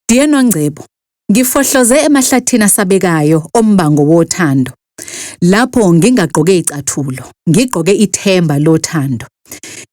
Dear Nongcebo, ngifohloze emahlathini asabekayo ombango wothando. Lapho ngingagqoke icathulo, ngigqoke ithemba lothando.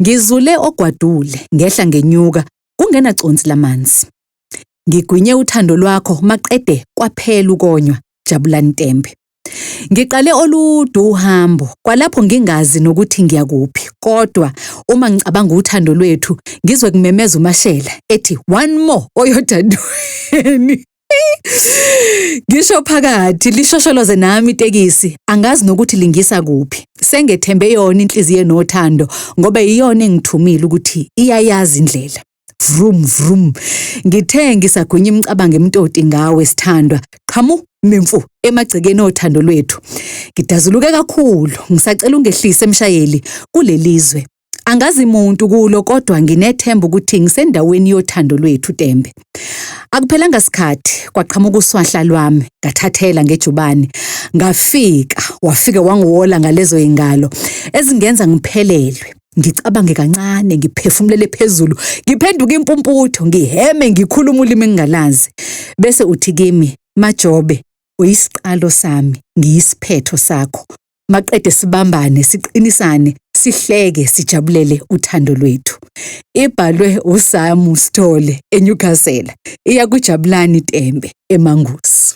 Ngizule ogwadule, ngehla ngenyuka, kungena consi lamanzi. Ngigwinye uthando lwakho maqede kwaphela ukonywa, Jabulani Tembe. Ngiqale oludu uhambo, kwalapho ngingazi nokuthi ngiya kuphi. Kodwa uma ngicabanga uthando lwethu, ngizwe kumemeza uMashela ethi one more oyodadweni. Ngisho phakathi lishosholoze nami itekisi, angazi nokuthi lingisa kuphi. Sengethembe yona inhliziyo enothando ngoba iyona engithumile ukuthi iyayazi indlela. Vrum vrum. Ngithe ngisagwinya imicabango emtoti ngawe sithandwa. Qhamu mimfu emagcekeni othando lwethu. Ngidazuluke kakhulu, ngisacela ungehlise emshayeli kulelizwe. Angazi muntu kulo kodwa nginethemba ukuthi ngisendaweni yothando lwethu Tembe. Akuphelanga sikhathi kwaqhamuka uswahla lwami ngathathela ngejubane ngafika wafike wangiwola ngalezo ingalo ezingenza ngiphelelwe. ngicabange kancane ngiphefumulele phezulu ngiphenduke impumputho ngiheme ngikhuluma ulimi engingalazi bese uthi kimi majobe uyisiqalo sami ngiyisiphetho sakho maqede sibambane siqinisane sihleke sijabulele uthando lwethu ibhalwe uSamu Sithole eNewcastle iya kuJabulani Tembe eMangusi